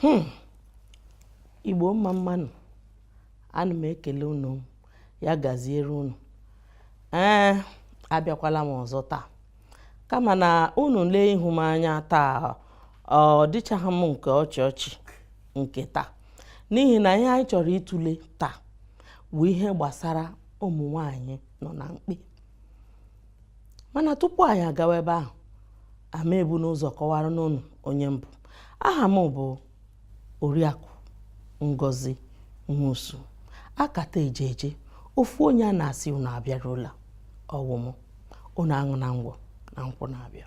Hmm. igbo mma mma nụ ana m ekele unu ya gaziere unu ee abịakwala m ọzọ taa kama na unu lee ihu m anya taa ọ dịchaghị m nke ọchị ọchị nke taa n'ihi na ihe anyị chọrọ ịtụle taa bụ ihe gbasara ụmụ nwanyị nọ na mkpe mana tupu anyị agawa ebe ahụ aga m ebunụ ụzọ kọwaranụ unu onye m bụ aha m bụ oriakụ ngozi nwosu akata eje eje ofu onye a na-asị unu abịarula ọ wụ mụ unu aṅụna ngwọ na nkwụ na-abịa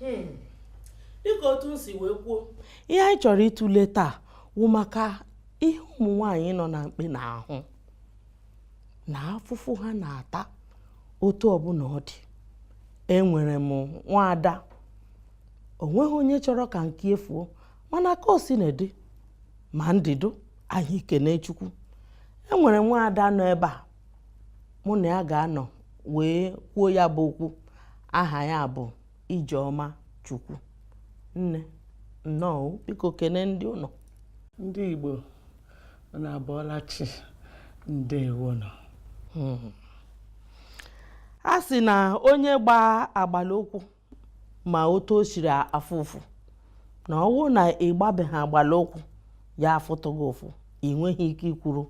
hmm. dịka otu m si wee kwuo ihe anyị chọrọ ịtụle taa wụ maka ihe ụmụ nwaanyị nọ na mkpe na-ahụ na afụfụ ha na-ata otu ọbụla ọ dị enwere m nwaada o nweghị onye chọrọ ka nke ya fuo mana ka o sina dị ma ndụ dị anyị kene chukwu enwere m nwaada nọ ebe a mụ na ya ga-anọ wee kwuo ya bụ okwu aha ya bụ Ijeọma Chukwu nne nnọọ biko kene ndị ụlọ ndị Igbo unu abọọla chi ndewo nụ hmm. a sị na onye gbaa agbala ụkwụ ma otu o siri afụ ụfụ na ọ bụrụ na ị gbabeghị agbala ụkwụ ya afụtụ gị ụfụ ị nweghị ike ikwuru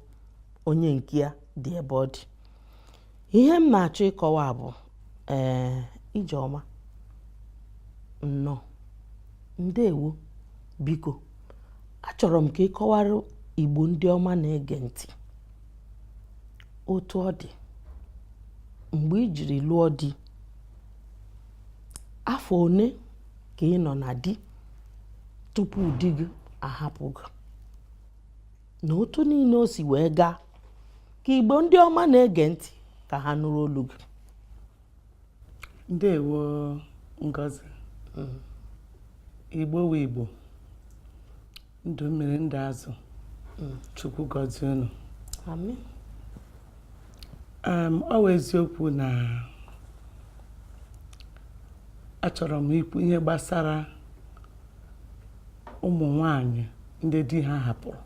onye nke ya dị ebe ọ dị ihe m na-achọ ịkọwa bụ ee ijeọma nnọọ ndewo biko achọrọ m ka ị kọwara igbo ndị ọma na-ege ntị otu ọ dị mgbe i jiri lụọ di afọ one ka ị nọ na di tupu di gị ahapụ gị na otu niile o si wee gaa ka igbo ndị ọma na-ege ntị ka ha nụrụ olu gị ndewo ngozi mm. igbo wụ igbo ndụ mmiri ndụ azụ mm. chukwu gọzie unu ọ wụ eziokwu na achọrọ m ikwu ihe gbasara ụmụ nwanyị ndị di ha hapụrụ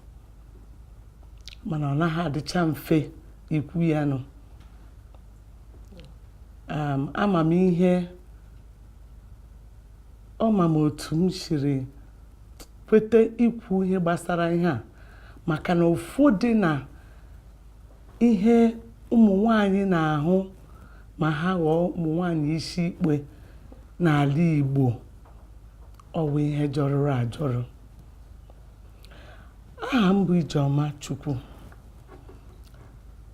mana ọ naghị adịcha mfe ikwu ya nụ ama m ihe ọ ma m otu m siri kweta ikwu ihe gbasara ihe a maka na ụfọdụ na ihe ụmụ nwanyị na-ahụ ma ha ghọọ ụmụ nwanyị isi ikpe n'ala Igbo ọ bụ ihe jọrọrọ ajọrọ aha m bụ Ijeọma Chukwu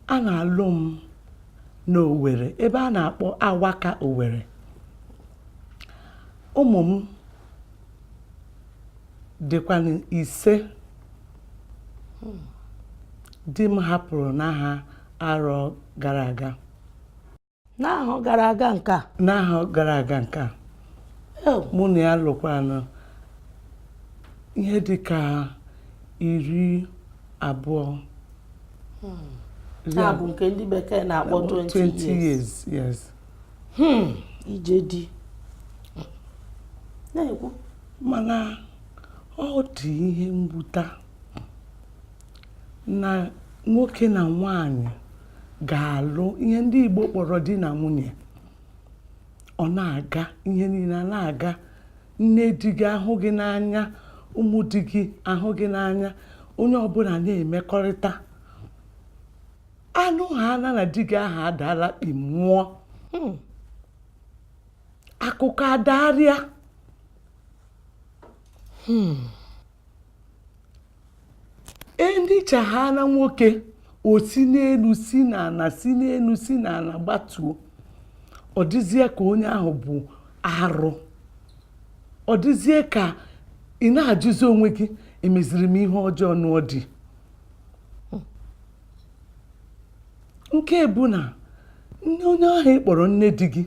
a na-alụ m n'Owere ebe a na-akpọ Awaka Owere ụmụ m dịkwanụ ise di m hapụrụ n'ahọ arọ gara aga n'ahọ gara aga nke a n'ahọ gara aga nke a Oh, mụ na ya lụkwanụ ihe dị ka iri abụọ iri na-abụ nke ndị bekee na-akpọ abụọ, 20 years yes hmm, ije di na-ekwu mana ọ dị ihe nwute na nwoke na nwanyị ga-alụ ihe ndị Igbo kpọrọ di na nwunye ọ na-aga ihe niile a na-aga nne di gị ahụ gị n'anya ụmụ di gị ahụ gị n'anya onye ọbụla na-emekọrịta a nụhaana na di gị ahụ adaala kpi mmụọ hmm. akụkọ adagharịa hmm. endicha ha na nwoke o si n'elu si n'ala si n'elu si n'ala gbatuo ọ dịzie ka onye ahụ bụ arụ ọ dịzie ka ị na-ajụzi onwe gị emeziri m ihe ọjọọ lụọ di nke bụ na onye ahụ ị kpọrọ nne di gị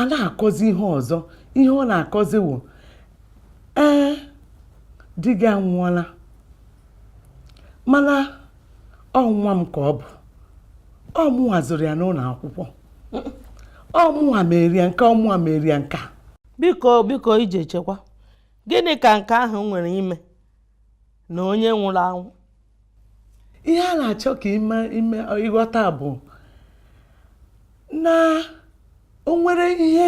ana-akọzi ihe ọzọ ihe ọ na-akọzi wụ ee di gị anwụọla mana ọ nwa m ka ọ bụ ọ mụnwa zụrụ ya n'ụlọ akwụkwọ ọ mụnwa meere ya nke a ọ mụnwa meere ya nke a biko biko ije chekwa gịnị ka nke ahụ nwere ime na onye nwụrụ anwụ ihe a na-achọ ka e mee ị ghọta bụ na o nwere ihe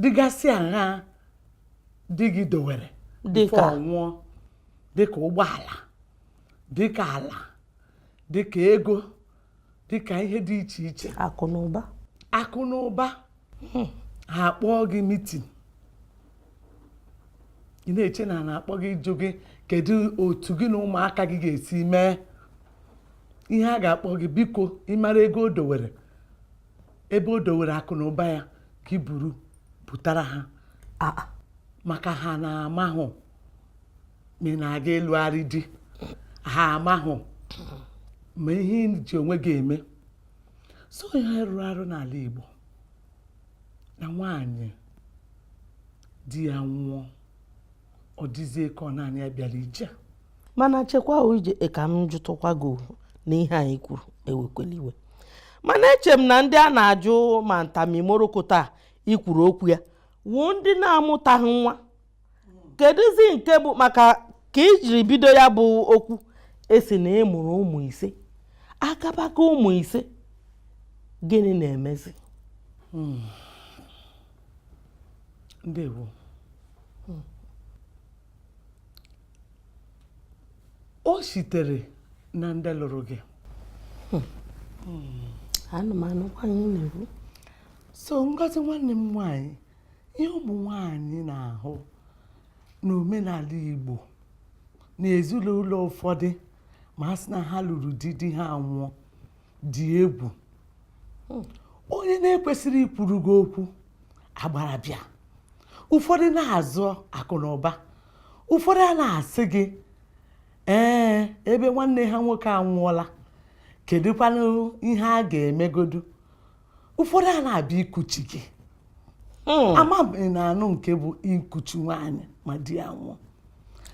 dịgasị aṅaa di gị dowere nwụọ dịka ụgbọala dịka ala dịka ego dịka ihe dị iche iche akụ na ụba akụ na ụba hmm. ha akpọọ gị meeting ị na-eche na a na-akpọ gị ịjụ gị kedu otu gị na ụmụaka gị ga-esi mee ihe a ga-akpọ gị biko ị mara ego o dowere ebe o dowere akụ na ụba ya ka i buru butara ha maka ha na-amahụ ma ị na-aga ịlụgharị di ha amahụ ma ihe ị ji onwe gị eme so ihe rụrụ arụ n'ala Igbo na nwaanyị di ya nwụọ ọ dịzie ka ọ naanị ya bịara ije mana chekwa o Ije ka m jụtụkwa gị na ihe anyị kwuru ewekwela iwe mana eche m na ndị a na-ajụ ma nta ma imoroko taa i kwuru okwu ya wụ ndị na-amụtaghị nwa kedụzi nke bụ maka ka i jiri bido ya bụ okwu ị sị na ị mụrụ ụmụ ise akabaka ụmụ ise gịnị na-emezi hmm. ndewo hmm. o sitere na ndị lụrụ gị hmm. anụmanụ kwanye na-ekwu so ngozi nwanne m nwanyị ihe ụmụ nwanyị na-ahụ n'omenala Igbo na ezinụlọ ụfọdụ ma a sị na ha lụrụ di di ha nwụọ dị egwu hmm. onye na-ekwesịrị ikwuru gị okwu agbara bịa ụfọdụ na-azọ akụ na ụba ụfọdụ a na-asị gị ee ebe nwanne ha nwoke anwụọla kedụkwanụ ihe a ga-emegodu ụfọdụ a na-abịa ikuchi gị hmm. ama ị na-anụ nke bụ ikuchi nwaanyị ma di ya nwụọ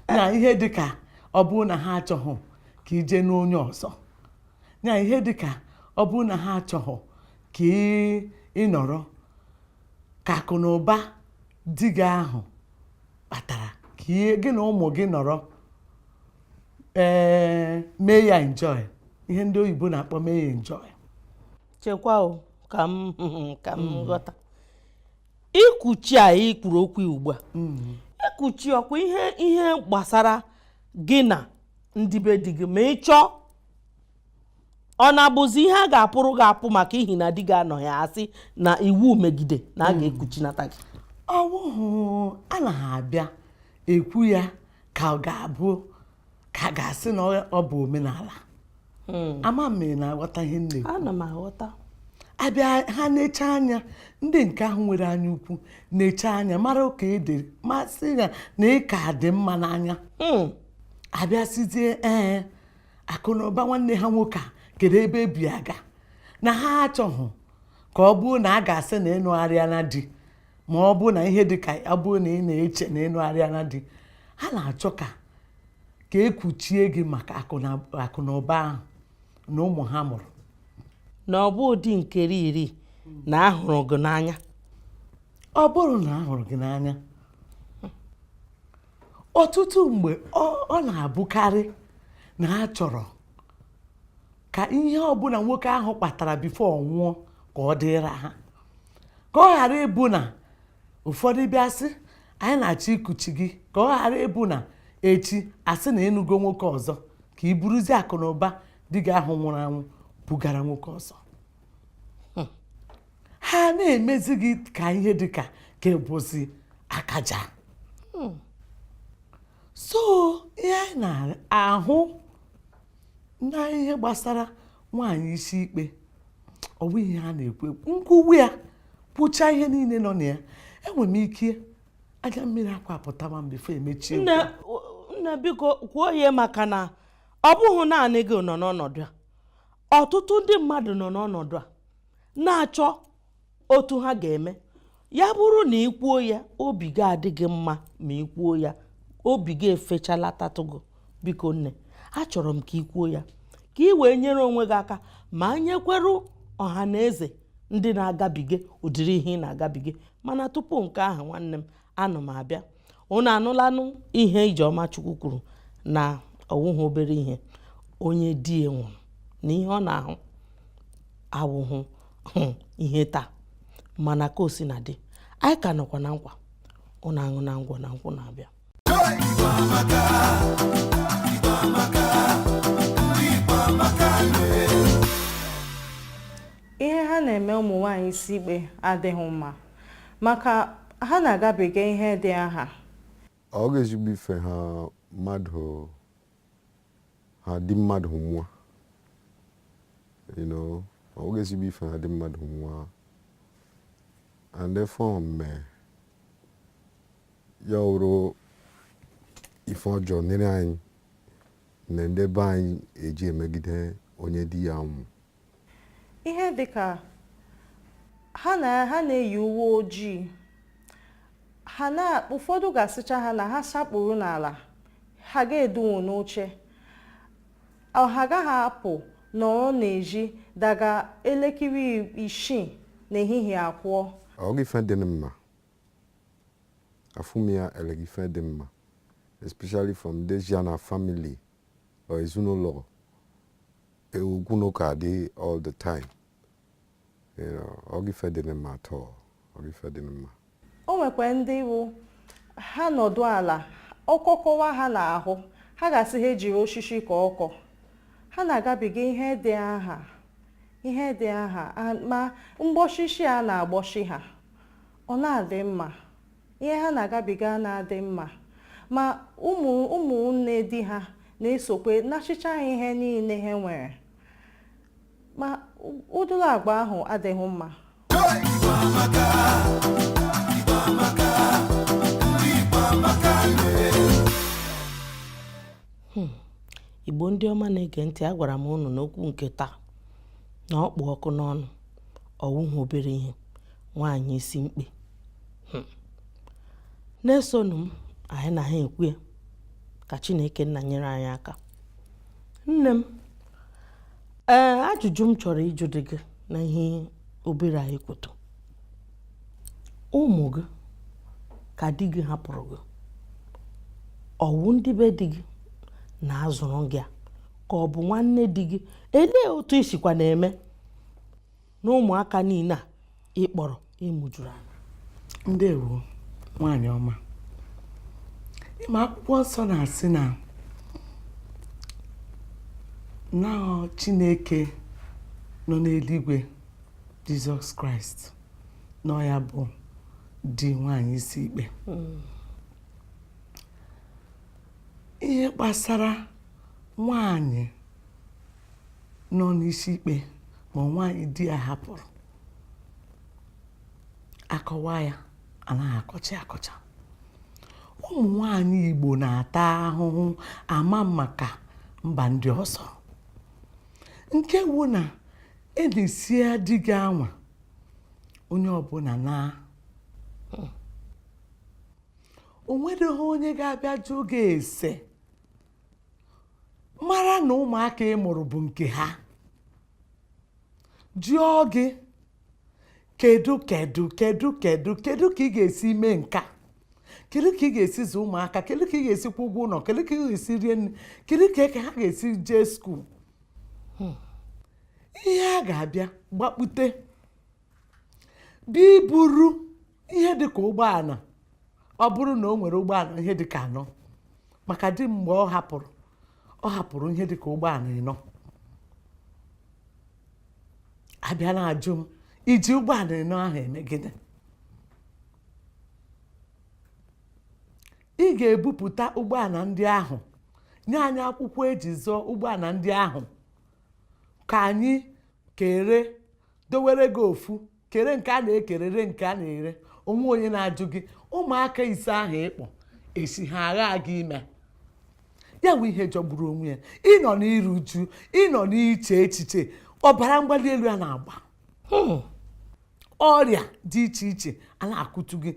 eh. na ihe dịka ọ bụrụ na ha achọghị ka i je lụọ onye ọzọ na ihe dịka ọ bụrụ na ha achọghị ka ị nọrọ ka akụ na ụba di gị ahụ kpatara ka gị na ụmụ gị nọrọ ee eh, mee ya enjoy ihe ndị oyibo na-akpọ mee ya enjoy chekwa o ka m ka m mm. ghọta ikuchi a ị kwuru okwu ugbu a mm. ikuchi ọ kwa ihe ihe gbasara gị na ndị be di gị ma ị chọọ ọ na-abụzi ihe a ga-apụrụ gị apụ maka ihi na di gị anọghị a sị na iwu megide na a mm. ga-ekuchinata gị ọ wụhụ anaghị abịa ekwu ya ka ọ ga-abụ ka a ga-asị na ọ bụ omenala hmm. ama m ma ị na-aghọta ihe nne ana m aghọta abịa ha na-eche anya ndị nke ahụ nwere anya ukwu na-eche anya mara ọ ka dị mma sị ya na ị ka dị mma n'anya hmm. abịa sịzie ee akụ na ụba nwanne ha nwoke a kedu ebe ebi aga na ha achọghị ka ọ bụrụ na a ga-asị na ị nụgharịana di ma ọ bụ na ihe dị ka ya bụrụ na ị na-eche na ị nụgharịana di ha na-achọ ka ka ekuchie gị maka akụ na ụba ahụ na ụmụ ha mụrụ na ọ bụ ụdị nkeri iri na a hụrụ gị n'anya ọ bụrọ na a hụrụ gị n'anya ọtụtụ mgbe ọ na-abụkarị na a chọrọ ka ihe ọbụla nwoke ahụ kpatara before ọ nwụọ ka ọ dịra ha ka ọ ghara ịbụ na ụfọdụ bịa sị anyị na-achọ ikuchi gị ka ọ ghara ịbụ na echi a sị na ị nụgo nwoke ọzọ ka ị buruzie akụ na ụba di gị ahụ nwụrụ anwụ bugara nwoke ọzọ hmm. ha na-emezi gị ka ihe dị ka ka ị bụzi akaja hmm. so ihe anyị na-ahụ na ihe gbasara nwaanyị isi ikpe ọ bụ ihe a na-ekwu ekwu m kwuwe ya kwuchaa ihe niile nọ na ya enwere m ike anya mmiri akwa apụtama m before emechie nne nne biko kwuo ya maka na ọ bụghị naanị gị nọ n'ọnọdụ a ọtụtụ ndị mmadụ nọ n'ọnọdụ a na-achọ otu ha ga-eme ya bụrụ na ị kwuo ya obi ga-adị gị mma ma ị kwuo ya obi ga-efechalatatụ gị biko nne achọrọ m ka ị kwuo ya ka ị wee nyere onwe gị aka ma nyekwere ọha na eze ndị na-agabiga ụdịrị ihe ị na-agabiga mana tupu nke ahụ nwanne m ana m abịa unu anụlanụ ihe Ijeọma Chukwu kwuru na ọ wụhụ obere ihe onye di ya nwụrụ na ihe ọ na-ahụ awụhụ hmm, ihe taa mana ka o sina dị anyị ka nọkwa na nkwa unu aṅụna ngwọ na nkwụ na-abịa ihe ha na-eme ụmụ nwaanyị isi ikpe adịghị mma maka ha na-agabiga ihe dị aha. Ọ wụghị ezigbo ife ha mmadụ ha di mmadụ nwa you know ọ wụghị ezigbo ife ha di mmadụ nwa and ife mee ya wụrụ ife ọjọọ nyere anyị na ndị be anyị eji emegide onye di ya nwụ ihe dị ka ha na ha na-eyi uwe ojii ha na ụfọdụ ga-asịcha ha na ha sakpuru n'ala ha ga-edunwu n'oche ọ ha agaghị apụ nọrọ n'ezi daga elekere isii n'ehihie akwụọ ọ ghị ife dị mma afụ m ya eleghị ife dị mma especially from Dejiana family or ezinụlọ okwu na ụka adị all the time ọ ghị ife dị mma at all ọ ghị ife dị mma o nwekwa ndị bụ ha nọdụ ala ọkọkọwa ha n'ahụ ha ga-asị ha jiri osisi kọọ ọkọ ha na-agabiga ihe dị aha ihe dị aha ma mkpọchichi a na-akpọchi ha ọ na-adị mma ihe ha na-agabiga na-adị mma ma ụmụ ụmụnne di ha na-esokwu anachịcha ha ihe niile ha nwere ma ụdịrị agwa ahụ adịghị mma igbo ndị ọma na-ege ntị agwara m unu na okwu nke taa na ọ kpụ ọkụ n'ọnụ ọ wụhụ obere ihe nwaanyị isi mkpe hmm. na-esonụ m anyị na ha ekwu ya ka Chineke nna nyere anyị aka nne m ee eh, ajụjụ m chọrọ ịjụdị gị na ihe obere anyị kwuto ụmụ gị ka di gị hapụrụ gị ọ wụ ndị be di gị na-azụrụ gị a ka ọ bụ nwanne di gị elee otu i sikwa na-eme na ụmụaka niile a ị kpọrọ ị mụjuru anya ndewo nwaanyị ọma ị ma akwụkwọ nsọ na-asị na na chineke nọ n'eluigwe jizọs kraịst na ya bụ di nwaanyị isi ikpe ihe gbasara nwaanyị nọ n'isi ikpe ma nwaanyị di ya hapụrụ akọwa ya anaghị akọcha akọcha ụmụ nwaanyị Igbo na-ata ahụhụ ama maka mba ndị ọzọ nke wu na enisie di gị anwa onye ọbụla naa o nwereghị onye ga-abịa jụ gị ese mara na ụmụaka ị mụrụ bụ nke ha jụọ gị kedu kedu kedu kedu kedu ka ị ga-esi mee nke a kedu ka ị ga-esi zụ ụmụaka kedu ka ị ga-esi kwụ ụgwọ ụlọ kedu ka ị ga-esi rie nri kedu ka ha ga-esi jee skuul hmm. ihe a ga-abịa gbakpute gị ị buru ihe dị ka ụgbọala ọ bụrụ na o nwere ụgbọala ihe dị ka anọ maka di mgbe ọ hapụrụ ọ hapụrụ ihe dị ka ụgbọala ịnọ a bịa na-ajụ m i ji ụgbọala ịnọ ahụ eme gịnị ị ga-ebupụta ụgbọala ndị ahụ nye anyị akwụkwọ e ji zụọ ụgbọala ndị ahụ ka anyị kere dowere gị ofu kere nke a na-ekere re nke a na-ere o nwee onye na-ajụ gị ụmụaka ise ahụ ị kpọ esi ha agha gị ime ya bụ ihe jọgburu onwe ya ị nọ n'iru uju ị nọ n'iche echiche ọbara mgbali elu a na-agba hmm. ọrịa dị iche iche a na-akụtu gị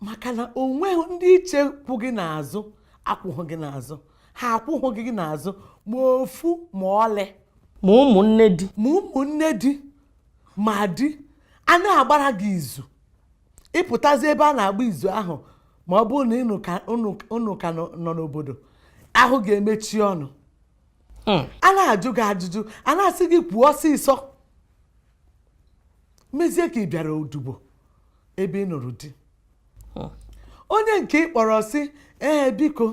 maka na o nweghị ndị i che kwụ gị n'azụ akwụghị gị n'azụ ha akwụghị gị n'azụ ma ofu ma ọlị ma ụmụnne di ma di a na-agbara gị izu ị pụtazi ebe a na-agba izu ahụ ma ọ bụrụ na unu ka nọ n'obodo ahụ ga-emechi ọnụ hmm. a na-ajụ gị ajụjụ a na-asị gị kwuo ọsịsọ mezie ka ị bịara odubo ebe ị nụrụ di hmm. onye nke ị kpọrọ sị ee biko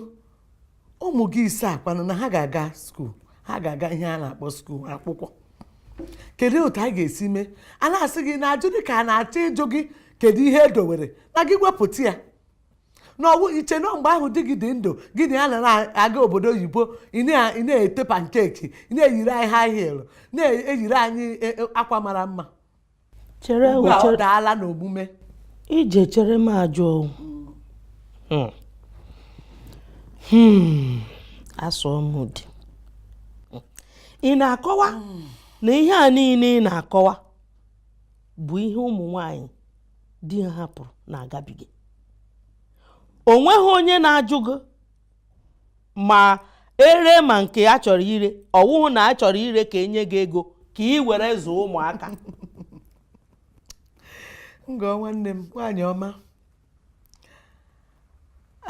ụmụ gị ise a kwanụ na ha ga-aga skuul ha ga-aga ihe a na-akpọ skuul akwụkwọ kedu otu anyị ga-esi mee a na-asị gị na ajụ dị ka a na-achọ ịjụ gị kedu ihe e dowere na gị wepụta ya na ọ wụ i che na mgbe ahụ di gị dị ndụ gị na ya na-aga obodo oyibo ị na-ete pancake ị na-eyiri anyị high heel na-eyiri anyị e, e, akwa mara mma chere ugbu a ọ chere daala n'omume ije chere m ajụ ọnwụ Hmm. Hmm. asụọ m ụdị ị na-akọwa na ihe a niile ị na-akọwa bụ ihe ụmụ nwanyị di ha hapụrụ na-agabiga o nweghị onye na-ajụ gị ma ere ma nke a chọrọ ire ọ wụhụ na a chọrọ ire ka e nye gị ego ka ị were zụọ ụmụaka ngọ nwanne m nwaanyị ọma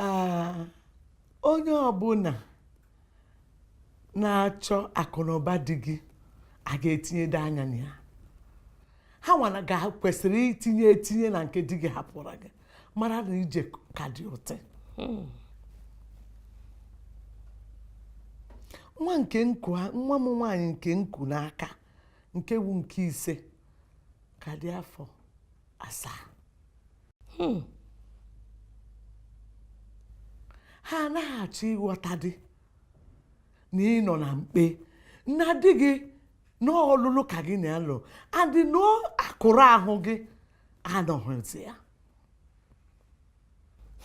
Ah, onye ọbụla na-achọ akụnụba di gị a ga-etinyede anya na ya ha nwana ga kwesịrị itinye etinye na nke di gị hapụrụ gị mara na ije ka dị uti hmm. nwa nke m ku nwa m nwaanyị nke m ku n'aka nke wu nke ise ka dị afọ asaa hmm. ha anaghị achọ ịghọta dị na ị nọ na mkpe na di gị na ọ ọlụlụ ka gị na-alụ and na ọ akụrụ ahụ gị anọghịzi ya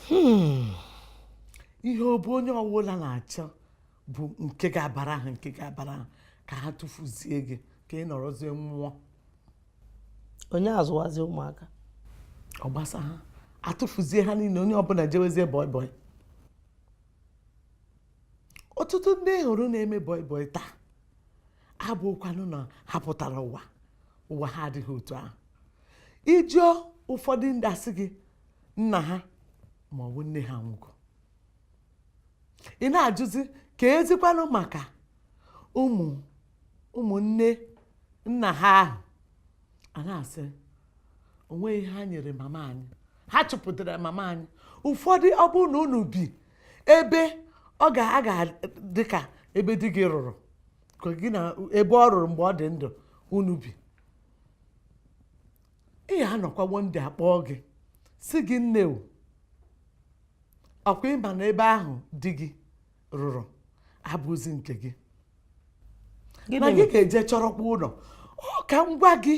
hmm. ihe ọ bụ onye ọwụla na-achọ bụ nke ga-abara ha nke ga-abara ha ka ha tụfuzie gị ka ị nọrọzie nwụọ onye azụwazi ụmụaka ọ gbasa ha atụfuzie ha niile onye ọbụla jewezie bọị bọị ọtụtụ ndị ị hụrụ na-eme bọị bọị taa abụghịkwanụ na ha pụtara ụwa ụwa ha adị ha otu ahụ ị jụọ ụfọdụ ndị asị gị nna ha ma ọ bụ nne ha nwụgo ị na-ajụzi keezikwanụ maka ụmụ ụmụnne nna ha ahụ a na-asị onweghị ihe ha nyere mama anyị ha chụpụtara mama anyị ụfọdụ ọ bụrụ na unu bi ebe ọ ga a ga dị ka ebe di gị rụrụ ka gị na ebe ọ rụrụ mgbe ọ dị ndụ unu bi ị ya anọkwa one day a kpọọ gị sị gị nne o ọkwa ị ma na ebe ahụ di gị rụrụ abụzi nke gị na gị ga-eje chọrọkwa ụlọ ọ ka ngwa gị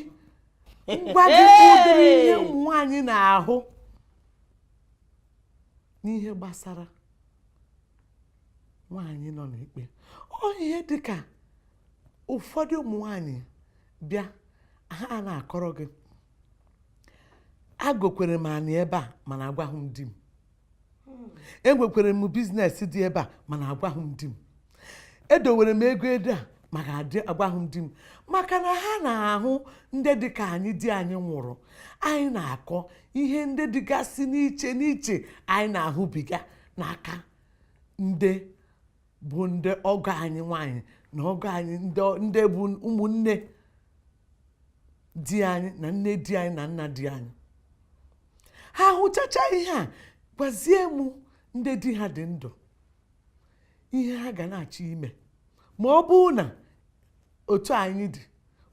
ngwa gị ụdịrị ihe ụmụ nwaanyị na-ahụ n'ihe gbasara nwaanyị nọ na mkpe ọ ihe dịka ụfọdụ ụmụ nwaanyị bịa ha a na-akọrọ gị agọkwara m anị ebe a mana agwaghị m di m enwekwere m business dị ebe a mana agwaghị m di m edowere m ego ebe a maka adị agwaghị m di m maka na ha na-ahụ ndị dị ka anyị di anyị nwụrụ anyị na-akọ ihe ndị dịgasị n'iche n'iche anyị na-ahụbiga n'aka ndị bụ ndị ọgọ anyị nwanyị na ọgọ anyị ndị bụ ụmụnne di anyị na nne di anyị na nna di anyị ha hụchacha ihe a gwazie m ndị di ha dị ndụ ihe ha ga na-achọ ime ma ọ bụrụ na otu anyị dị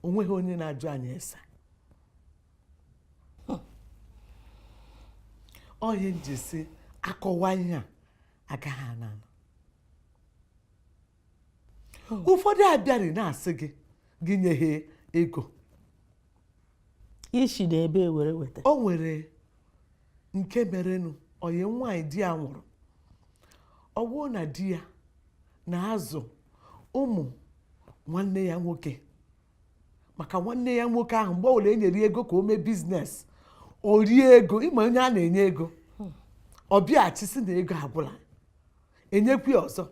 onweghị onye na-ajụ anyị ese ọ ihe m ji si akọwa ihe a agaghị ana anọ ụfọdụ abịarị na-asị gị gị nye ha ego i si na ebee were weta o nwere nke merenụ ọyị m nwaanyị di ya nwụrụ ọ bụrụ na di ya na-azụ ụmụ nwanne ya nwoke maka nwanne ya nwoke ahụ mgbe ọbụla e nyere ego ka o mee business o rie ego ị ma onye a na-enye ego ọ bịaghachi sị na ego agwụla enyekwa ya ọzọ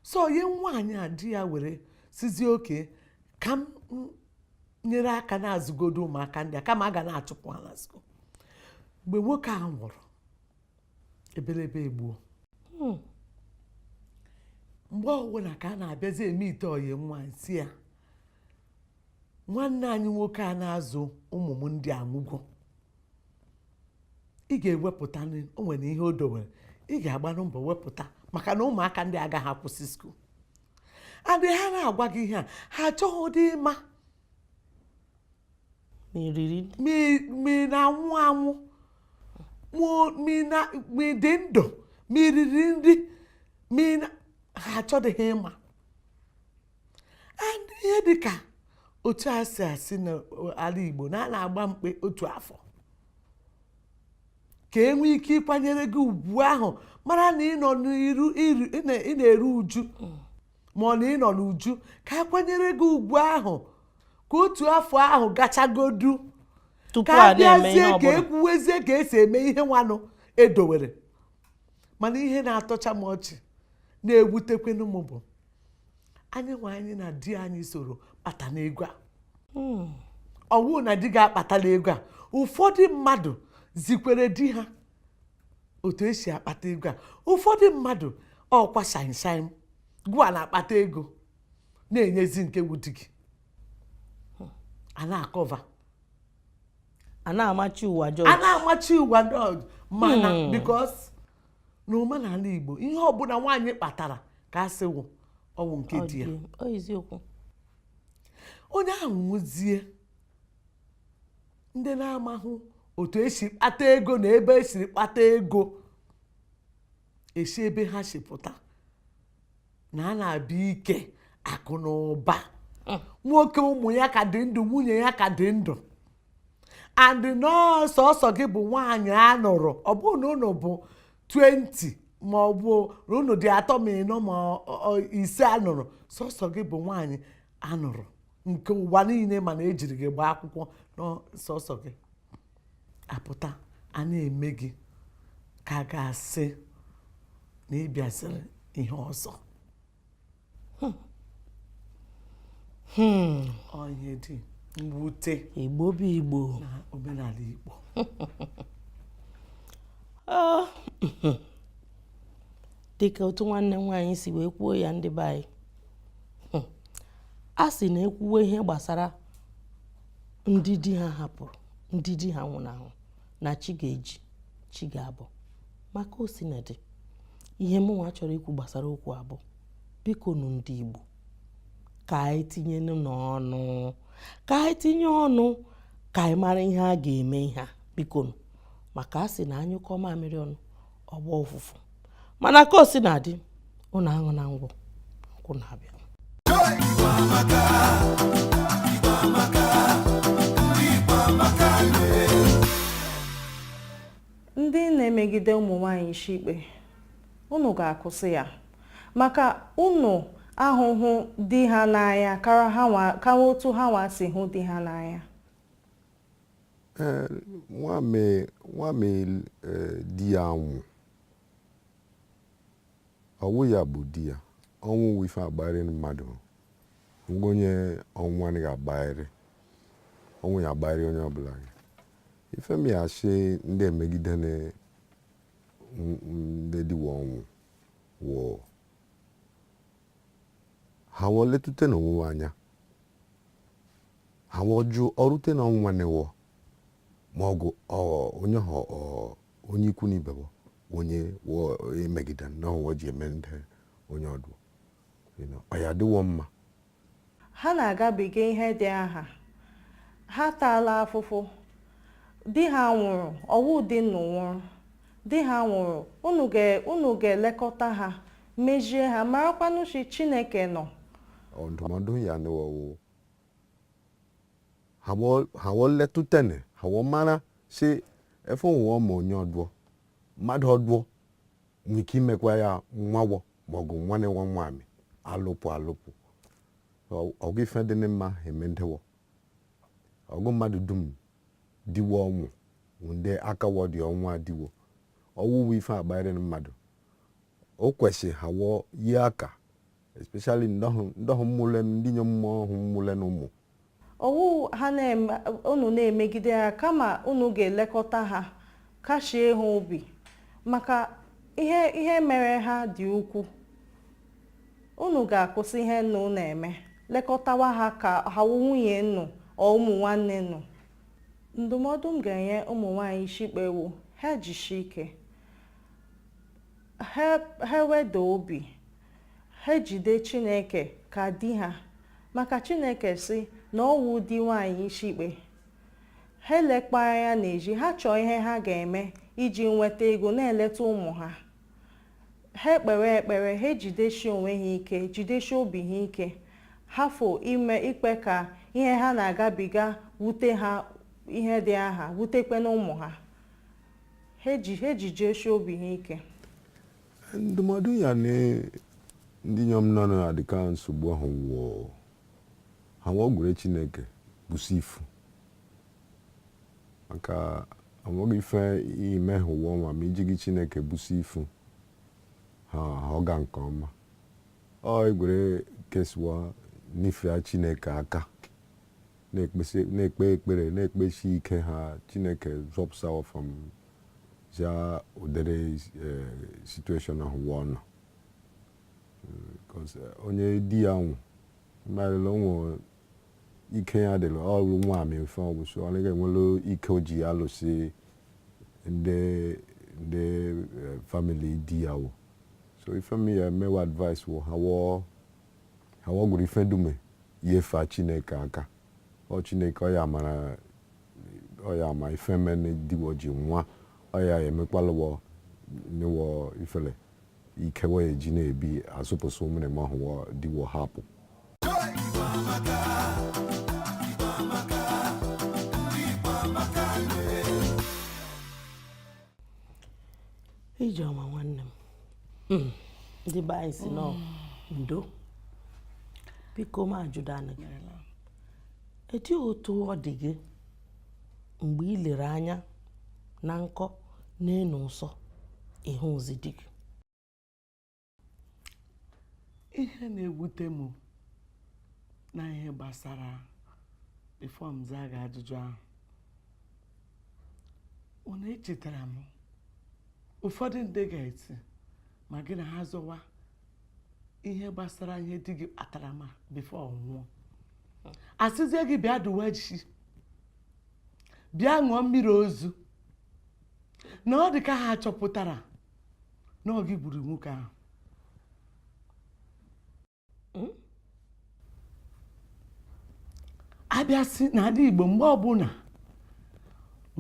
so onye nwaanyị a di ya were sịzie okay ka m nyere aka na-azụgodu ụmụaka ndị a kama a ga na-achụpụ ha na skuul mgbe nwoke a nwụrụ ebelebe egbuo hmm. mgbe ọbụla ka a na-abịazi emeet ọyị m nwaanyị sị ya nwanne anyị nwoke a na-azụ ụmụ m ndị a anwụgo ị ga-ewepụta o nwere ihe o dowere ị ga-agbanụ mbọ wepụta maka na ụmụaka ndị agaghị akwụsị skuul and ha na-agwa gị ihe a ha achọghịdị ịma ma ị na-anwụ anwụ ma ị dị ndụ ma i riri nri ha achọdịghị ịma and ihe dị ka otu e si asị n'ala Igbo na a na-agba mkpe otu afọ ka e nwee ike ịkwanyere gị ugwu ahụ mara na ị nọ n'iru ị na-eru uju mm. ma na ị nọ n'uju ka a kwanyere gị ugwu ahụ ka otu afọ ahụ gachagodu ka a bịazie ka e kwuwezie ka e si eme ihe nwanụ e dowere mana ihe na-atọcha m ọchị na-ewutekwenu m bụ anyịnwa anyị na di anyị soro kpatanụ ego a hmm. ọ wụ na di gị akpatala ego a ụfọdụ mmadụ zikwara di ha otu e si akpata ego a ụfọdụ mmadụ ọkwa sometimes gụwa na-akpata ego na-enyezi nke wụ di gị a na-acover a na-amachi ụwa jọji a na-amachi ụwa jọji mana hmm. because na omenala Igbo ihe ọbụla nwaanyị kpatara ka a sị wụ ọ wụ nke di ya onye ahụ nwụzie ndị na-amahụ otu e si kpata ego na ebe e siri kpata ego esi ebe ha si pụta na a na-abịa ike akụ na ụba hmm. nwoke ụmụ ya ka dị ndụ nwunye ya ka dị ndụ and na ọ sọsọ gị bụ nwaanyị a nụrụ ọ bụghị na unu bụ 20 ma ọ bụ na unu dị atọ ma ịnọ ma ise a nụrụ sọsọ gị bụ nwaanyị a nụrụ nke ụwa niile ma na e jiri gị gbaa akwụkwọ na ọ sọsọ gị a pụta a na-eme gị ka a ga-asị na ị bịaziri ihe ọzọ hmm. Hmm. ọ ihe dị mwute igbo bụ igbo na omenala igbo ah. dịka otu nwanne m nwaanyị si wee kwuo ya ndị be anyị hmm. a sị na e kwuwe ihe gbasara ndị di ha hapụrụ ndị di ha nwụrụ anwụ na chi ga-eji chi ga-abọ ma ka o si na-adị ihe mụnwa chọrọ ikwu gbasara okwu a bụ biko nụ ndị Igbo ka anyị tinyenụ ọnụ ka anyị tinye ọnụ ka anyị mara ihe a ga-eme ihe a biko nụ maka a sị na a nyụkọ mamịrị ọnụ ọ gbaa ụfụfụ mana ka o si na-adị ụnụ aṅụna ngwọ nkwụ na-abịa ndị na-emegide ụmụ nwanyị isi ikpe unu ga-akwụsị ya maka unu ahụhụ di ha n'anya kara otu ha nwa si hụ di ha n'anya Eh, nwami nwami eh, di ya anwụ ọ wụ ya bụ di ya ọnwụ wụ ife agbagharị mmadụ mgbe onye ọnwụ anaghị agbagharị ọnwụ ya agbagharị onye ọbụla ya ife m ya asị ndị emegide na m- m- ndị di wọ ọnwụ wụ Ha wọ letute n'owuwa anya, ha wọ jụ ọrute na ọnwụnwa newọ, ma ọgụ ọ onye ha ọ onye ikwu na ibe wọ onye wọ emegide na ọwọ ji eme ndị onye ọdụ. You know, ọ ya adịwọ mma Ha na-agabiga ihe dị aha. Ha taala afụfụ. Di ha nwụrụ, ọ wụ di unu nwụrụ. Di ha nwụrụ, unu ga unu ga-elekọta ha, mezie ha, marakwanụ sị Chineke nọ. Ọ ndụmọdụ ya n'ọwụ ha wọ ha wọ letụtene ha wọ mara si efe ụwa ọma onye ọdụọ mmadụ ọdụọ nwee ike imekwa ya nwagbọ maọbụ nwanne nwa nwaanyị alụpụ alụpụ ọgụ ife dị mma eme ndewọ ọgụ mmadụ dum di wọ ọnwụ ndị akawọ dị ọnwụ adiwo ọnwụ wụ ife agbanyere mmadụ o kwesịrị ha wọ yi aka especially ndị ahụ mụla ndị nyom ahụ mụla nụ ụmụ ọ wụha unu na-emegide ha kama unu ga-elekọta ha kashie ha obi maka ihe ihe mere ha dị ukwu unu ga-akwụsị ihe unu na-eme lekọtawa ha ka ha wụ nwunye unu ọ ụmụ nwanne unu ndụmọdụ m ga-enye ụmụ nwaanyị ishikpe wụ ha jishi ike ha weda obi Ha ejide Chineke ka di ha, maka Chineke sị na ọ wụ di nwaanyị ishikpe. Ha elekpala anya n'ezi, ha chọọ ihe ha ga-eme iji nweta ego na-eleta ụmụ ha. Ha ekpewe ekpere, ha ejidesi onwe ha ike, jidesi obi ha ike, hafụ ime ikpe ka ihe ha na-agabiga wute ha ihe dị aha, wutekwe na ụmụ ha. Ha ejijesi obi ha ike. ndụmọdụ m ya-enye ndị inyom nọ n'ụdị ka nsogbu ahụ wụ ha wọ gwere chineke busu ifu maka o nweghị ife i me ha ụwa ọnwa ma i jighị chineke busu ifu ha ọ ga nke ọma ọ egwere case wọ nyefea chineke aka na-ekpe ekpere na-ekpesi ike ha chineke zọpụta ọfa m za ụdịrị e, situation ahụ wọ nọ e, onye di ya nwụ mmadụ o nwe ike ya dịrị ọrụ nwaamị mfe ọgwụsị ọ naghị enwere ike o ji alụsị ndị ndị e, family di ya ọgụ so ife m ya-eme wọ advice wụ ha wọ ha wọ gwere ife dume yefa chineke aka ọ chineke ọ ya mara ọ ya ma ife mene di wọ ji nwụọ ọ ya ya-emekwalụ wọ nye wọ ifele ike wọ eji na-ebi azụpụsụ ụmụrịma ahụ wọ di wọ hapụ ije ọma nwanne m hmm. ndị be anyị sị na ndo biko m ajụdo anụ gị etu otu ọ dị gị mgbe ị lere anya na nkọ na-enu ụsọ ị hụzi di gị ihe na-ewute m na ihe gbasara before m zaa gị ajụjụ ahụ ọ na-echetara m ụfọdụ ndị ga-eti ma gị na ha zọwa ihe gbasara ihe di gị kpatara ma before ọ nwụọ a sịzie gị bịa dụwa ishi bịa ṅụọ mmiri ozu na ọ dị ka ha chọpụtara na ọ gị gburu nwoke ahụ hmm? a bịa sị n'ala Igbo mgbe ọbụla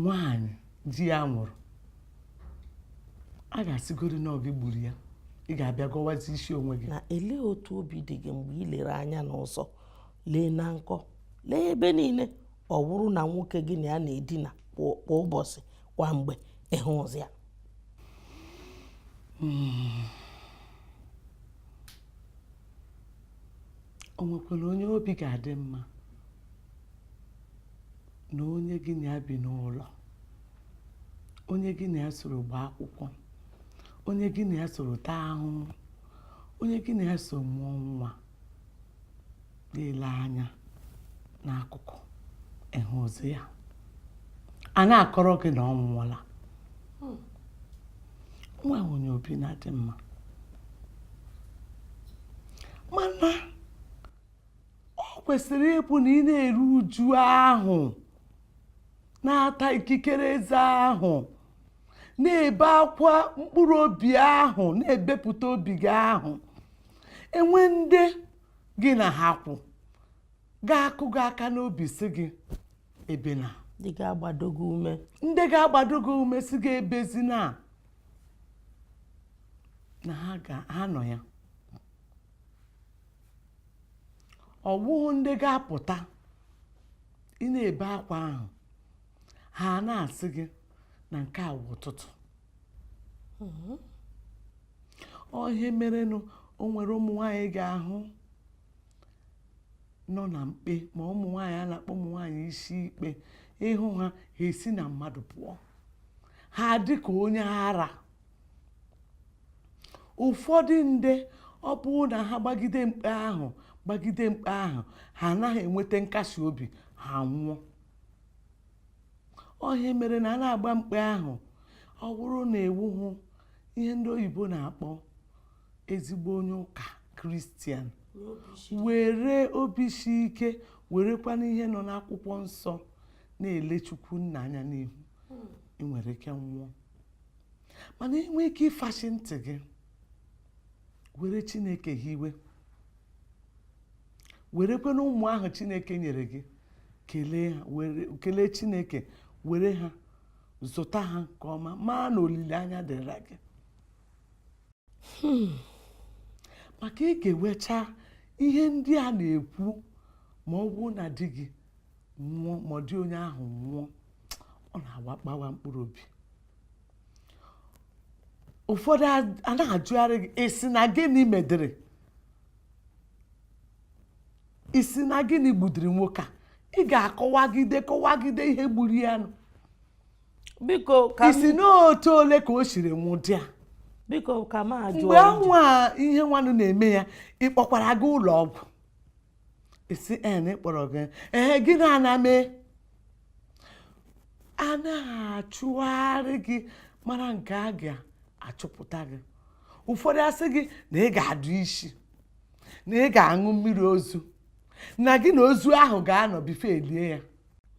nwanyị di ya nwụrụ a ga-asịgoro na ọ gị gburu ya ị ga-abịa gọwazi isi onwe gị na elee otu obi dị gị mgbe ị lere anya n'ụzọ lee na nkọ lee ebe niile ọ wụrụ na nwoke gị na ya na-edina kwa ụbọchị kwa mgbe ị hụụzi ya hmm. o nwekwara onye obi ga-adị mma na onye gị na ya bi n'ụlọ onye gị na ya soro gbaa akwụkwọ onye gị na ya soro taa ahụhụ onye gị na ya soro mụọ nwa na-ele anya n'akụkụ ị hụụzi ya a na-akọrọ gị na ọ nwụọla hmm. o nwehụ onye obi na-adị mma mana o kwesịrị ịbụ na ị na-eru uju ahụ na-ata ikikere eze ahụ na-ebe akwa mkpụrụ obi ahụ na-ebepụta obi gị ahụ e nwee ndị gị na ha kwụ ga-akụ gị aka n'obi sị gị ebena ndị ga-agbado gị ume ndị ga-agbado gị ume sị gị ebezina na ha ga ha nọ ya ọ bụghị ndị ga-apụta ị na-ebe akwa ahụ ha na-asị gị na nke a wụ ụtụtụ ọ ihe merenụ o nwere ụmụ nwaanyị ị ga-ahụ nọ na mkpe ma ụmụ nwaanyị a na-akpọ ụmụ nwaanyị isi ikpe ị hụ ha ha esi na mmadụ pụọ ha dị ka onye ara ụfọdụ ndị ọ bụrụ na ha gbagide mkpe ahụ gbagide mkpe ahụ ha anaghị enweta nkasi obi ha nwụọ ọ ihe mere na a na-agba mkpe ahụ ọ bụrụ na ị wụhụ ihe ndị oyibo na-akpọ ezigbo onye ụka kristian were obi si ike werekwana ihe nọ n'akwụkwọ nsọ na-ele chukwu nna anya n'ihu hmm. i nwere ike nwụọ mana i nwee ike ịfachi ntị gị were chineke hiwe werekwenụ ụmụ ahụ chineke nyere gị kelee ha were kelee chineke were ha zụta ha nke ọma maa na olileanya dịra gị hmm. maka i gewecha ihe ndị a na-ekwu ma ọ bụrụ na di gị nwụọ ma ọ di onye ahụ nwụọ ọ na-agbawa mkpụrụ obi ụfọdụ a na-ajụgharị gị ị sị na gịnị medịrị ị sị na gịnị gbudiri nwoke a ị ga-akọwagide kọwagide ihe gburu ya nụ biko ka ị sị n'otu ole ka o siri nwụdị a biko ka m ajụ mgbe anwa ihe nwanụ na-eme ya ị kpọkwara gaa ụlọ ọgwụ ị sị ee m kpọrọ gị ee gịnị a na-eme a na-achụgharị gị mara nke a ga-achụpụta gị ụfọdụ a sị gị na ị ga-adụ isi na ị ga-aṅụ mmiri ozu na gị na ozu ahụ ga-anọ before e lie ya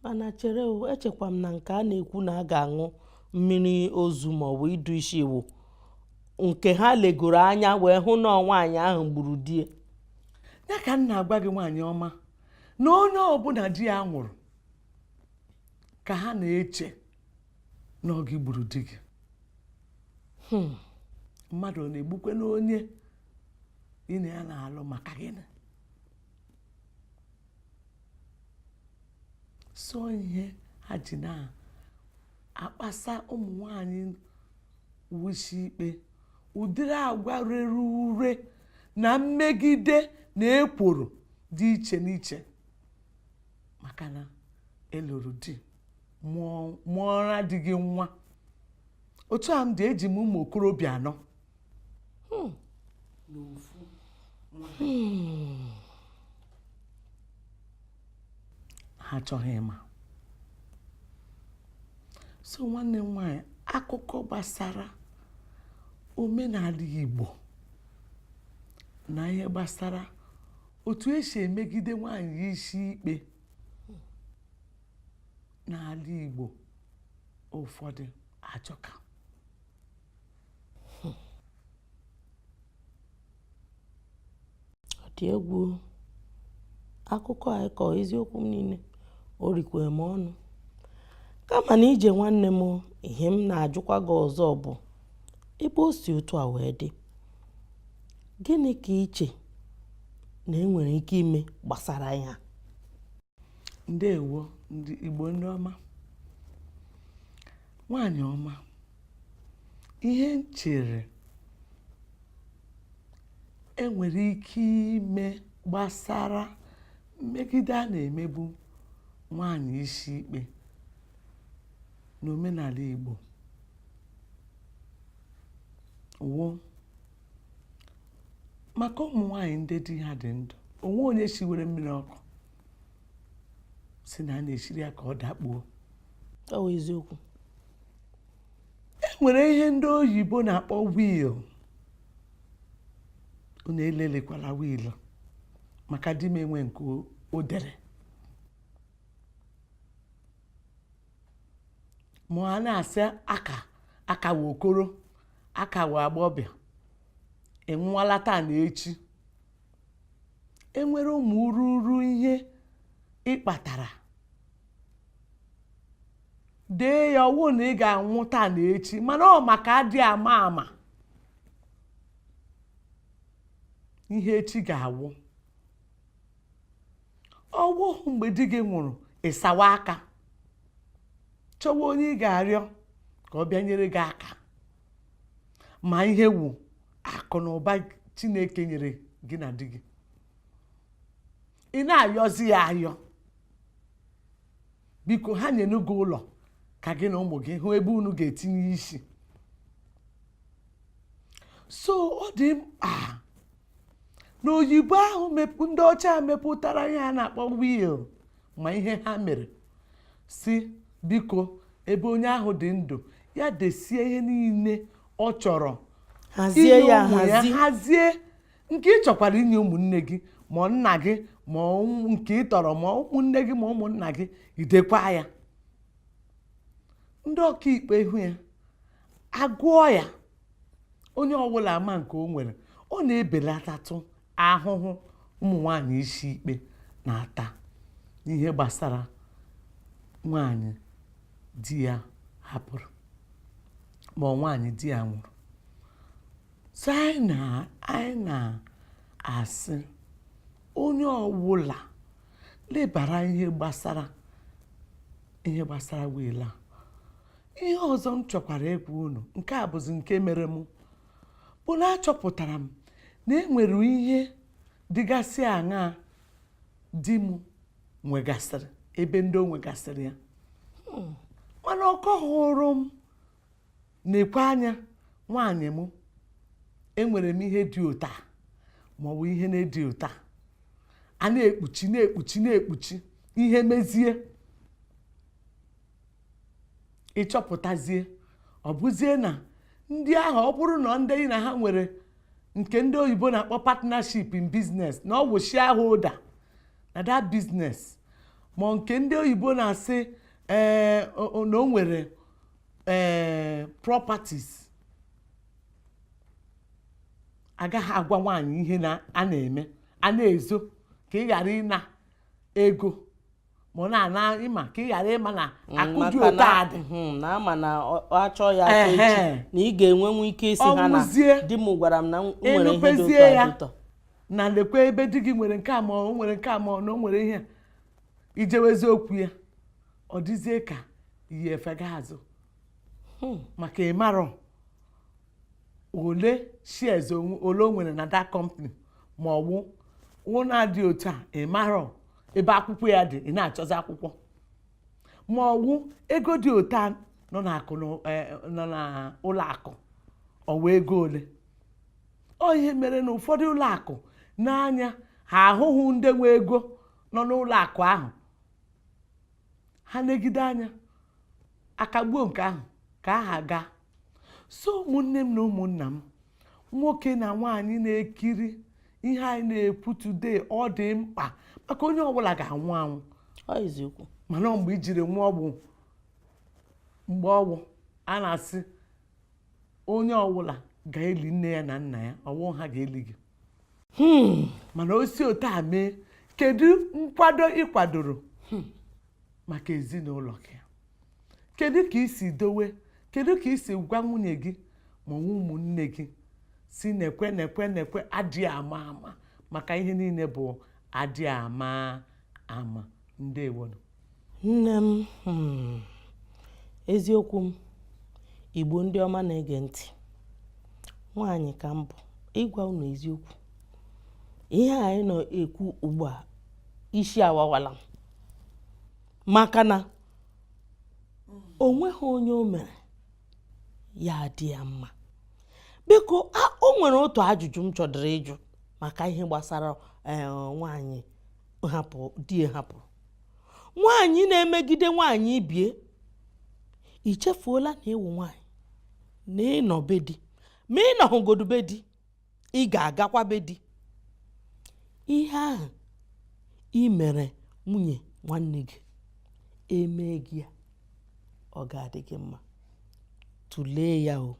mana chere echekwa m na nke a na-ekwu na a ga-aṅụ mmiri ozu ma ọ bụ ịdụ isi wụ nke ha legoro anya wee hụ na ọ nwaanyị ahụ gburu di ya ka m na-agwa gị nwaanyị ọma na onye ọbụla di ya nwụrụ ka ha na-eche na ọ gị gburu di gị hmm. mmadụ ọ na-egbukwenụ onye ị na ya na-alụ maka gịnị so ihe ha ji na-akpasa ụmụ nwanyị wụ isi ikpe ụdịrị agwa rere ure na mmegide na ekworo dị iche n'iche maka na ị lụrụ di mụọra di gị nwa otu a m dị eji m ụmụ okorobịa anọ hmm. Hmm. ha achọghị ịma so nwanne m nwaanyị akụkọ gbasara omenala Igbo na ihe gbasara otu esi emegide nwaanyị isi ikpe n'ala Igbo ụfọdụ ajọka ọ dị egwu akụkọ a ị kọ eziokwu m niile o rikwere m ọnụ kama na ije nwanne m ihe m na-ajụkwa gị ọzọ bụ ebe o si otu a wee dị gịnị ka i che na e nwere ike ime gbasara ya ndewo ndị igbo ndị ọma nwaanyị ọma Ihe m chere e nwere ike ime gbasara mmegide a na-emegbu nwaanyị isi ikpe n'omenala Igbo wụ maka ụmụ nwaanyị ndị di ha dị ndụ o nwe onye shiwere mmiri ọkụ sị na a na-eshiri ya ka ọ dakpuo ọ wụ eziokwu e nwere ihe ndị oyibo na-akpọ wiil unu elelekwala wiil maka di m enwe nke o dere ma a na-asị akawa okoro akawa agbọbịa enwụwala taa na echi e nwere ụmụ ururu ihe ị kpatara dee ya ọ wụ na ị ga-anwụ taa na echi mana ọ maka adị ama ama ihe echi ga-awụ ọ wụhụ mgbe di gị nwụrụ ị sawa aka chọwa onye ị ga-arịọ ka ọ bịa nyere gị aka ma ihe wụ akụ na ụba chineke nyere gị na di gị ị na-ayọzi ya ayọ biko ha nyenụ gị ụlọ ka gị na ụmụ gị hụ ebe unu ga-etinye isi so ọ dị mkpa na oyibo ahụ ndị ọcha mepụtara ihe a na-akpọ wil ma ihe ha mere sị biko ebe onye ahụ dị ndụ ya desie ihe niile ọ chọrọ hazie ya hazie nke ị chọkwara inye ụmụnne gị ma nna gị ma nke ị tọrọ ma ụmụnne gị ma ụmụnna gị i dekwaa ya ndị ọkaikpe hụ ya agụọ ya onye ọwụla ama nke o nwere ọ na-ebelatatụ ahụhụ ụmụ nwanyị isi ikpe na-ata n'ihe gbasara nwanyị di ya hapụrụ ma ọ nwaanyị di ya nwụrụ so anyị na anyị na-asị onye ọwụla lebara ihe gbasara ihe gbasara wiil a ihe ọzọ m chọkwara ịgwa unu nke a bụzi nke mere m bụ na achọpụtara m na e nwere ihe dịgasị aṅaa di m nwegasịrị ebe ndị o nwegasịrị ya hmm. mana ọ kọhụrụ m nekwe anya nwaanyị m enwere m ihe dị otu a maọbụ ihe na-adị otu a a na-ekpuchi na-ekpuchi na-ekpuchi ihe mezie ị chọpụtazie ọ bụzie na ndị ahụ ọ bụrụ na ndị na ha nwere nke ndị oyibo na-akpọ partnership in business na ọ bụ shareholder na that business ma nke ndị oyibo na-asị ee eh, na o nwere ee properties agaghị agwa nwaanyị ihe a na-eme a na-ezo ka ị ghara ịna ego ma ọ na-ana ịma ka ị ghara ịma na mm, akụ dị otu a dị hmm, na a ma na a chọọ ya echi na ị ga-enwenwu ike ịsị ha na di m gwara m na m nwere ihe dị otu a na lekwa ebe di gị nwere nke a ma ọ nwere nke a ma ọ na o nwere ihe i jewezie okwu ya ọ dịzie ka iyi efega azụ hmm. maka ị marọ ole shares ole o nwere na that company ma ọ bụ ụnọ dị otu a ị marọ ebe akwụkwọ ya dị ị na-achọzi akwụkwọ ma ọ bụ ego dị otu a nọ n'akụ e, nọ n'ụlọ akụ ọ wụ ego ole ọ ihe mere na ụfọdụ ụlọ akụ na anya ha ahụhụ ndị nwe ego nọ n'ụlọ akụ ahụ ha legide anya akagbuo nke ahụ ka aha gaa so ụmụnne m na ụmụnna m nwoke na nwaanyị na-ekiri ihe anyị na-ekwu today ọ dị mkpa maka onye ọbụla ga-anwụ anwụ eziokwu mana mgbe i jiri nwụọ bụ mgbe ọ wụ a na-asị onye ọbụla ga-eli nne ya na nna ya ọ wụ ha ga-eli gị hmm. mana o si otu a mee kedu nkwado ị kwadoro hmm. maka ezinụlọ gị kedu ka i si dowe kedu ka i si gwa nwunye gị ma ụmụnne gị sị nekwe nekwe nekwe adịghị ama ama maka ihe niile bụ adịghị ama ama ndewonụ Nne m, hmm, eziokwu m, Igbo ndị ọma na-ege ntị, nwaanyị ka m bụ, ịgwa unu eziokwu. Ihe anyị nọ ekwu ugbu a, isi awawala m. Maka na o nweghị onye o mere ya adị ya mma. Biko, o nwere otu ajụjụ m chọdịrị ịjụ maka ihe gbasara eh, nwaanyị di ya hapụrụ. nwaanyị na-emegide nwaanyị ibe ya i chefuola na ị wụ nwaanyị na ị nọ be di ma ị nọhụgodu be di ị ga-agakwa be di ihe ahụ ị mere nwunye nwanne gị e mee gị ya ọ ga-adị gị mma tụlee ya o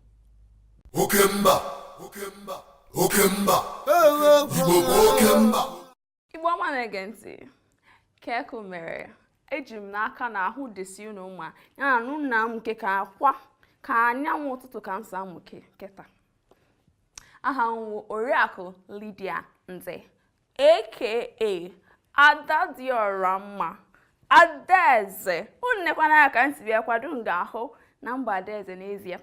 oke mba oke mba oke mba igbo bụ oke mba Igbo ọma na-ege ntị kee ka unu mere eji m n'aka na ahụ dịsi unu mma ya na unu na-amụkekwa ka anyanwụ ụtụtụ ka m si amụke kịta aha m wụ oriakụ Lydia Nze aka ada dị ọra mma adaeze unu nekwa m anya ka m si bịa kwado unu ga-ahụ na m bụ adaeze n'ezie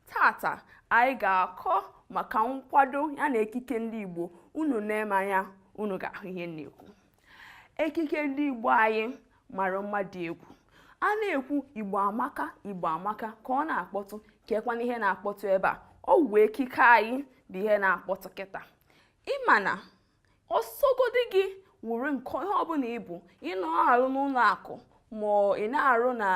tata anyị ga-akọ maka nkwado ya na ekike ndị Igbo unu nee m anya unu ga-ahụ ihe m na-ekwu ekike ndị Igbo anyị mara mma dị egwu a na-ekwu Igbo amaka Igbo amaka ka ọ na-akpọtụ kekwanụ ihe na-akpọtụ ebe a ọ wụ ekike anyị bụ ihe na-akpọtụ kịta ị ma na ọ sọgodi gị wụrụ nke onye ọbụla ị bụ ị na-arụ n'ụlọ akụ ma ị na-arụ na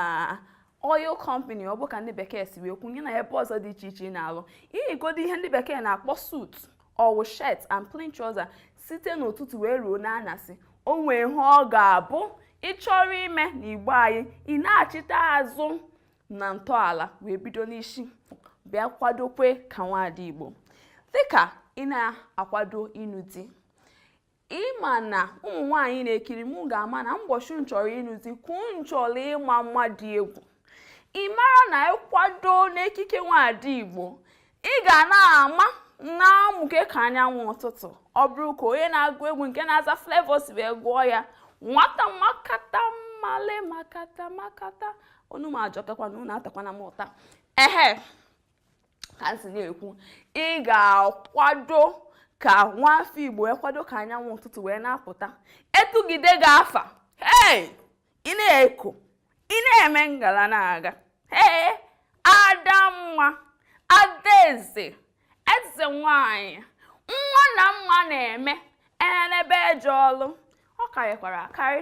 oil company ọ bụ ka ndị bekee si wee kwuo ya na ebe ọzọ dị iche iche ị na-alụ i yigodu ihe ndị bekee na-akpọ suit ọ wụ shirt and plain trouser site n'ụtụtụ wee ruo n'anyasị o nwee ihe ọ ga-abụ ị chọrọ ime na igbo anyị ị nachita azụ na ntọala wee bido n'isi bịa kwadokwe ka nwaada Igbo dịka ị na-akwado ịnụ di ị ma na ụmụ nwaanyị na-ekiri m ga-ama na mbọchị m chọrọ ịnụ di kwuo m chọrọ ịma mma dị egwu ị mara na ị kwado n'ekike nwaada Igbo ị ga na-ama na-amụke ka anyanwụ ụtụtụ ọ bụrụ ka onye na-agụ egwu nke na-aza Flavour si wee gụọ ya nwata makata male makata makata onu m ajọkakwa na unu atakwana m ụta ehe ka m si na-ekwu ị ga-akwado ka nwa afọ Igbo ị kwado ka anyanwụ ụtụtụ wee na-apụta e tugide gị afa hey ị na-eko ị na-eme ngala na-aga ee adamma adaeze eze nwanyị nwa na mma na-eme enenebe eje ọlụ ọ karịkwara akarị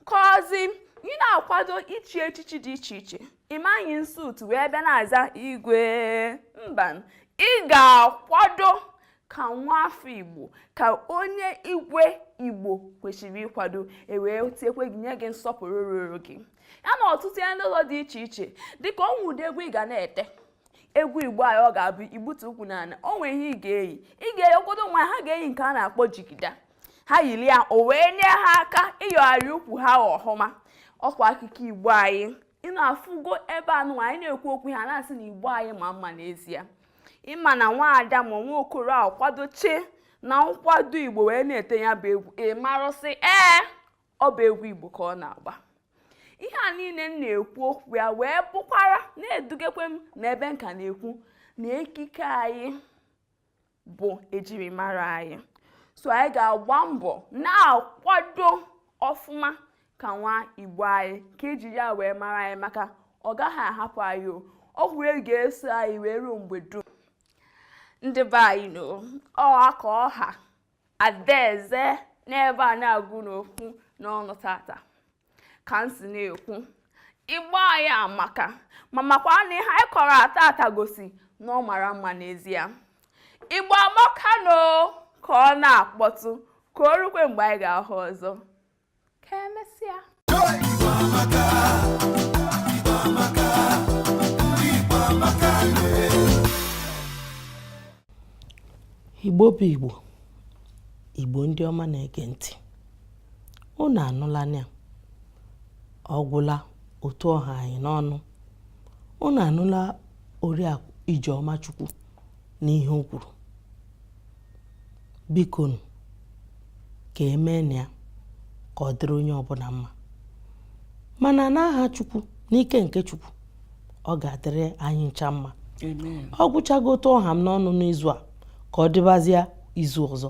kọzi ị na-akwado ichi echichi dị iche iche ị ma eyi suit wee bịa na-aza igwe mba ị ga-akwado ka nwa afọ igbo ka onye igwe igbo kwesịrị ịkwado ewee tiekwe gị nye gị nsọpụrụ ruru gị ya na ọtụtụ ihe ndị ọzọ dị iche iche dịka o nwere ụdị egwu ị ga na-ete egwu igbo anyị ọ ga-abụ igbutu ukwu n'ala o nwere ihe ị ga-eyi ị ga-eyi ụfọdụ nwa ha ga-eyi nke a na-akpọ jigida ha yiri ya o wee nye ha aka ịyọgharị ukwu ha ọhụma ọ kwa ekike igbo anyị ị na-afụgo ebe nụwa anyị na-ekwu okwu ha na-asị na igbo anyị ma mma n'ezie ị ma na nwaada ma nwa okoro akwadoche na nkwado igbo wee na-ete ya bụ egwu ị marụ sị ee ọ bụ egwu igbo ka ọ na-agba ihe a niile m na-ekwu okwu ya wee bụkwara na-edugekwe m n'ebe nka na-ekwu na ekike anyị bụ ejirimara anyị so anyị ga-agba mbọ na-akwado ọfụma ka nwa igbo anyị ka eji ya wee mara anyị maka ọ gaghị ahapụ anyị o ọ wụrụ ihe ga-eso anyị wee ruo mgbe dum ndị be anyị no ọ aka ọha adaeze n'ebe a na-agụ n'okwu n'ọnụ tata ka m si na-ekwu igbo anyị amaka m makwa na ihe anyị kọrọ tata gosi na ọ mara mma n'ezie igbo amaka no ka ọ na-akpọtụ ka o rukwe mgbe anyị ga-ahụ ọzọ ka emesịa igbo bụ igbo igbo ndị ọma na-ege ntị unu anụla ya ọ gwụla otu ọ ha anyị n'ọnụ unu anụla oriakụ ijeọma chukwu n'ihe o kwuru bikonu ka e meenụ ya ka ọ dịrị onye ọbụla mma mana n'aha chukwu n'ike nke chukwu ọ ga-adịrị anyị ncha mma ọ gwụchago otu ọ ha m n'ọnụ n'izu a ka ọ dịbazịa izu ọzọ